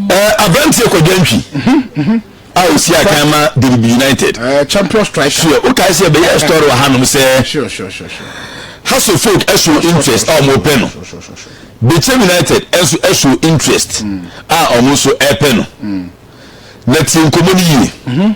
ɛɛ aberanteɛ kɔdwa ntwi a osi akan ma diribi united. ɛɛ eh, champion striker. sure o taa sɛ bɛyɛ story wɔ hanom sɛ. sure sure sure sure. house of folk ɛso interest a wɔn pɛ no bɛkyɛ united ɛso ɛso interest a wɔn nso ɛpɛ no na tie nkɔmɔ no yie.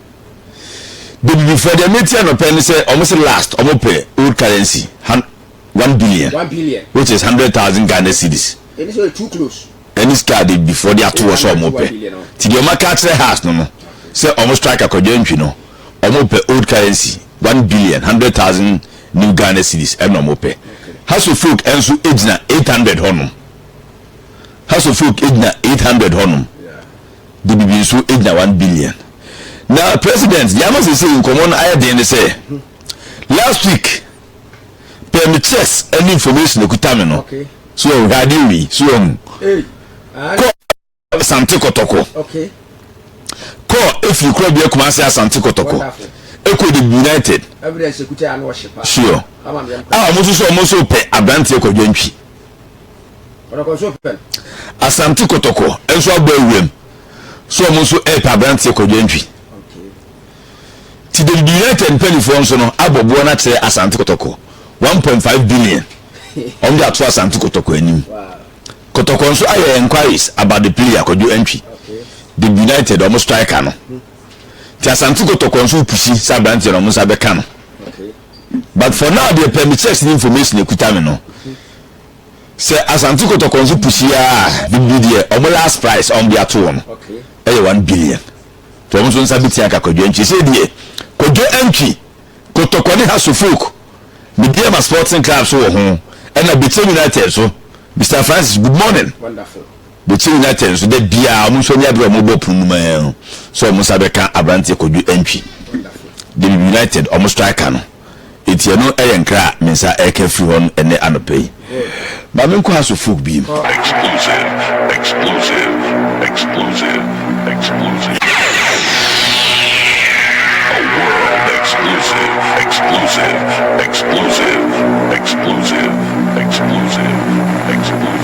Bebibifɔ deɛ me tia no pɛ ne sɛ ɔmo se last ɔmo pɛ old currency han one billion One billion. which is hundred thousand Ghana cedis Ɛni sɛ ɔyɛ too close. ɛne sika a Bebibifɔ de ato hɔ sɛ ɔmo pɛ nti deɛ ɔmo aka akyerɛ Haas no no sɛ ɔmo strike Akwadwo Antwi no ɔmo pɛ old currency one billion hundred thousand new Ghana cedis ɛna ɔmo pɛ House of Folk ɛnso ɛgyina eight hundred hɔ nom House of Folk ɛgyina eight hundred hɔ nom. de biribi nso gyina one billion na president deɛ ama sese nkɔmɔ no ayɛ den ne sɛ last week pɛ me checks ɛne information ekuta me no so wɔn hwɛ adeɛ wei so wɔn kɔ asante kɔtɔkɔ kɔ efiri kura bi akuma ase asante kɔtɔkɔ ekɔ de united sure a wɔn nso so wɔn nso pɛ aberanteɛ kɔ dwantwi. Asante Kotoko nso abɔ awuram sɛ wɔn nso repɛ aberanteɛ Kwadwo Antwi. Ti David United mpanimfoɔ nso no abɔ boɔ no akyerɛ Asante Kotoko one point five billion wɔn de ato Asante Kotoko anim. Kotoko nso ayɛ enquiries about the player Kwadwo Antwi, David United wɔn striker no. Ti Asante Kotoko nso repusi sɛ aberanteɛ no wɔn nsa bɛka no. but for now deɛ pɛ me checks ne information ekuta me no sɛ asante kɔtɔkɔ nso pusi a bibi deɛ ɔmo last price ɔmo de ato wɔn ɛyɛ one billion nti ɔmo nso nsa bi tia ka kwadwo antwi sɛ deɛ kwadwo antwi kɔtɔkɔ ne ha suffolk me deɛ ma sporting club so wɔ ho ɛna betel united so mr francis good morning. Wonderful. Bɛkyɛ nyina kyɛ nso da biara wɔn nso ani abere a wɔn bɔ pono no mu ara ho sɛ wɔn nsa bɛka abranteɛ Kwadwo Antwi, David United wɔn striker no enti ɛno yɛ nkra a me nsa reka firi hɔ no ɛnnɛ anɔpa yi. Ma me nkɔ ha so folk bi mu. Exclusive, exclusive, exclusive, exclusive A world exclusive, exclusive, exclusive, exclusive, exclusive, exclusive.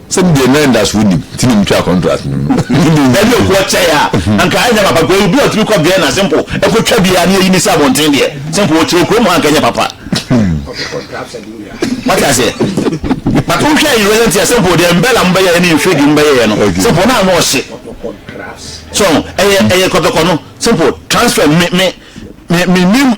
Sɛ me deɛ na anidasoɔ nnim nti na metwaa contract no mu. Ɛne okuo kyɛe a, anka anyɛ papa because obi a ɔtumi kɔ Vienna simple kɔtwa biara na yɛyi no sɛ abɔnten deɛ, simple ɔkyerɛ kurom hɔ anka ɛnyɛ papa. Wate aseɛ? But wohwɛ in recent years simple deɛ Mbella mo bɛyɛeɛ ne Nfrigi mo bɛyɛeɛ no, simple na ano ɔhye. So ɛyɛ ɛyɛ kɔtɔkɔ no, simple transfer me me me mennim.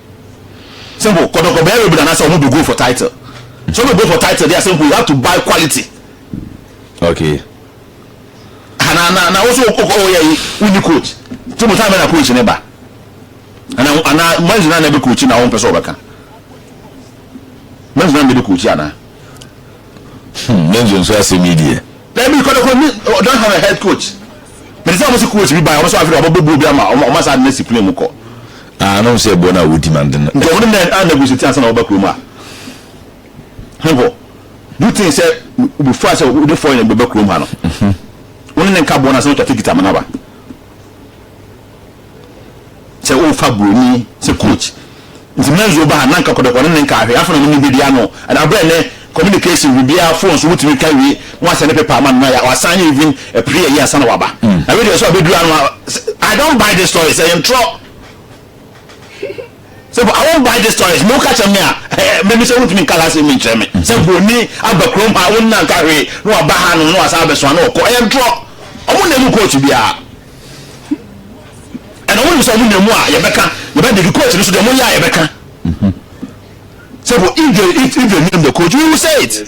Simple kɔtɔkɔ bɛyɛ rebel anasɛ ɔmo bɛ go for title sɛ ɔbɛ go for title deɛ simple you have to buy quality. Okay. Ha na na na woso ɔyɛ yi wonni coach ti mo time na coach ne ba ana ana manzi na na ebe coach na wɔn pɛ sɛ ɔbɛka manzi na na ebe coach ana. Hmm, manzi nso asɛm yi deɛ. Daabi mekɔ da koro me ɔ don't have a head coach mede sɛ ɔmo se coach bi bae ɔmo so afei de ɔmo bɛbɔ obi ama ɔmo ɔmo saa de no asi plane mu kɔ. Ah na ɔhu sɛ ɛboɔ no a wodi ma nden. Nti ɔmo ne nɛ a negotiate ansa na wɔba kurom ha he hɔ do you think sɛ wobefua sɛ wode foreigner bi bɛba kurom ha no wo ne ne nka boɔ no ansa na watwa ticket ama no aba. sɛ wofa buroni sɛ coach nti menzo ba ha na nka kɔdɔkɔ ne ne nka ahwɛ afɔ na mo ne bedi ano ɛna abirɛ ne communication biribiara phone so wotumi ka wie na wasɛ ne paper ama no na wasan ne even ɛpere yɛ yi ansa na waba na wedeɛ so abɛduru ano I don't buy this story sɛ yɛntorɔ Sɛ I won't buy this toys me woka kyerɛ me a me me sɛ wontumi nka saa asɛm yi nkyerɛ me sɛ buroni aba kurom ha wonnya nka hwee na waba ha nom na wasan abɛsoa na ɔkɔ ɛyɛ ntorɔ ɔmo nna mu court biara ɛna ɔmo nim sɛ ɔmo nna mu a yɛbɛka yɛbɛdigi court no so deɛ ɔmo yɛ a yɛbɛka sɛ if they if, if they name the court we will say it.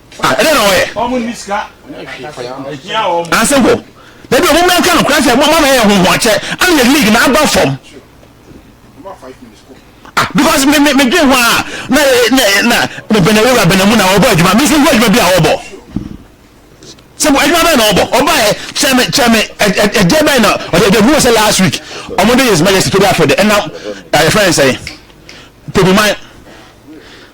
Ah, ɛdɛ na wɔyɛ. Wɔn nni sika. Ah, simple. Dabi wɔn mmerɛ nka no kura sɛ mama yɛ ho ho akyɛ ana yɛ league na aba fam. Ah, because me me me dwen ho a na na na me bɛnɛ wura bɛnɛ mu na ɔbɔ adwuma me nso ho adwuma bi a ɔbɔ. Simple adwuma bɛn na ɔbɔ ɔba yɛ kyɛ me kyɛ me ɛdeɛ bɛn na ɔde ɛdeɛ hu sɛ last week ɔmo de yɛ sima yɛ si tobi afɛ de ɛnam ɛyɛ fɛn sɛ tobi man.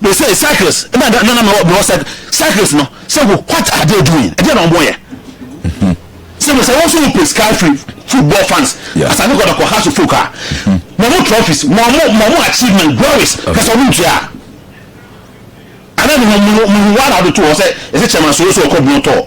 Me say cycles na na na me wɔ cycle cycles no say what are they doing ɛdeɛ na wɔn yɛ sɛ mo sɛ wɔn nso pe sky free football fans asane kɔ na kɔ house folk a mo mo trophies mo mo mo mo achievement glories kasa wɔn ntua ana mo mo mo wɔn a wɔde to hɔ sɛ ɛsɛ chairman so so ɔkɔ bu no tɔɔ.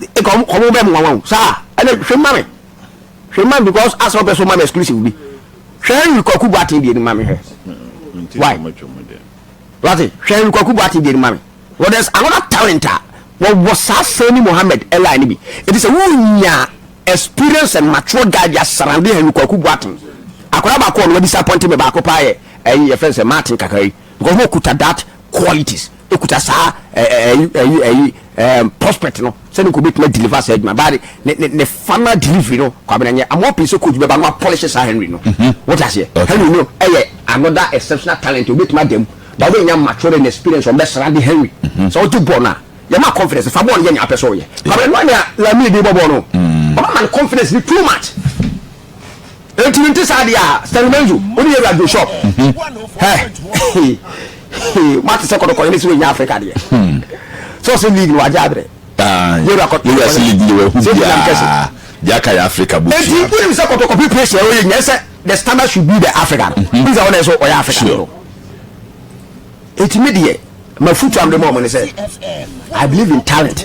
nka wɔn wɔn bɛ mmoa wɔn o saa ɛna hwɛ mu ma me hwɛ mu ma me because asɛ ɔpɛ so ma me exclusive bi hwɛ henry kwaku boaten deɛ ni ma me hwɛ why wate hwɛ henry kwaku boaten deɛ ni ma me well there's another talent a wɔwɔ saa sani mohammed ɛla ni bi eti sɛ wonya experience and mature guy bi asarande henry kwaku boaten akɔla baako ɔno wa disappoint me baako paa yɛ ɛyi yɛ fɛn sɛ martin kakra yi because wɔn kuta that qualities. kuta saa ɛyi ɛyi ɛyi ɛɛm prospect no sɛdeɛ nka obetumi adeliver saa adwuma baa de ne ne ne final delivery no kwabena nyɛ i'm hoping sɛ coach bɛba no apɔlehye saa henry no mhm. wote aseɛ henry no ɛyɛ another exceptional talent obetumi ada mu ba wobɛnya mature and experience wɔn bɛsra de henry mhm. sɛ ɔgye bɔɔl no a yɛma confidence fa bɔɔl no yɛ nea apɛ sɛ ɔyɛ kwabena no a nea lamine de bɔ bɔɔl no ɔma ma no confidence ne too much Enti no nte saa deɛ a Stanley Menzo wo ne yɛwura Joe Shop hɛ moate sɛ kɔdɔkɔyɛ ne sɛ wɔnya Africa deɛ sɛ ɔsɛ league no wagye aberɛ yɛwura kɔdɔkɔyɛ sɛ biam kɛse enti wonim sɛ kɔdɔkɔpe pressure ɛwɔ yɛ nyɛ sɛ the standard should be the Africa no wonim sɛ wɔne sɛ ɔyɛ Africa no enti me deɛ mafutu amde mɔ mo ne sɛ I believe in talent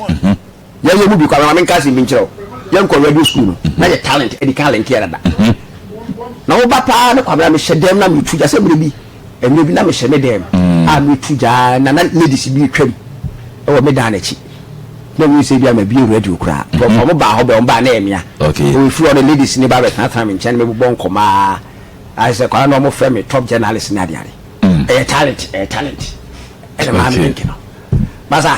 Yɛn yɛn mu bi koraa, maame nka asɛm bi nkyerɛ wo. Yɛn kɔ radio school no, na yɛ talent adi kan lɛnteɛ dada. Na wo ba paa ne kwabena mehyɛ dɛm na metu gya sɛ mmerɛ bi, mmerɛ bi na mehyɛ me dɛm a metu gya na na ladies bi retwam wɔ me dan n'akyi. Na ɛmu sɛ bi a mabie radio koraa. Nkurɔfoɔ mo baa hɔ bɛn, wɔn baa na ɛyɛ mmea. Wɔn firi hɔ no ladies ne ba bɛtenatena me nkyɛn ne me bobɔ nkɔmmɔ a. Ayɛ sɛ kwabena na wɔn frɛ me top journalist ne adeade. Ɛyɛ talent, ɛyɛ talent. Ɛna maame link no. Basa.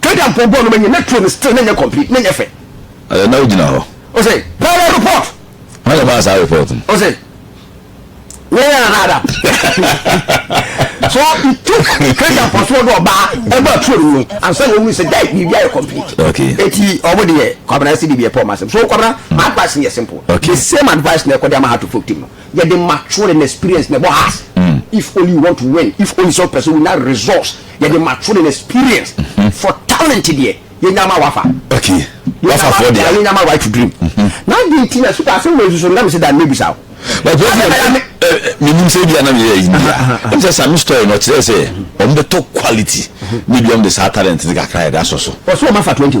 Kenya mpɔn bɔɔl no ma nyɛ na tuo no still na nyɛ complete na nyɛ fɛ. Ɛɛ na wogyina hɔ. Ose pɛrɛ report. Hwan na maa saa report no? Ose yɛn yɛn anada. So it took Kenya mpɔn so ɔde ɔbaa ɛma tuo no mu ansa na ohun sɛ dai biribi ayɛ complete. Okay. Eti ɔmo deɛ kwabena ɛsi biribi ɛpɛ ɔmo asɛm so kwabena advice no yɛ simple. Okay. The same advice na ɛkɔ de ama ha to folk team no. Yɛde mature and experience na ɛbɔ has if only you want to win if only sɛ wopɛ sɛ wonya resource yɛde mature and experience for talent deɛ yɛnya ma wafa okay wafa fɔ deɛ yɛnya ma right to dream na adi nti na suka asɛm wɔ nsusu no na mese da mmebisa wo menim sɛ bia na meyɛ yi bia ɛm sɛ same story no ɔkyerɛ sɛ ɔmbɛtɔ quality ne bia ɔmde saa talent ne kakra yɛde asɔ so ɔsɛ ɔma fa 20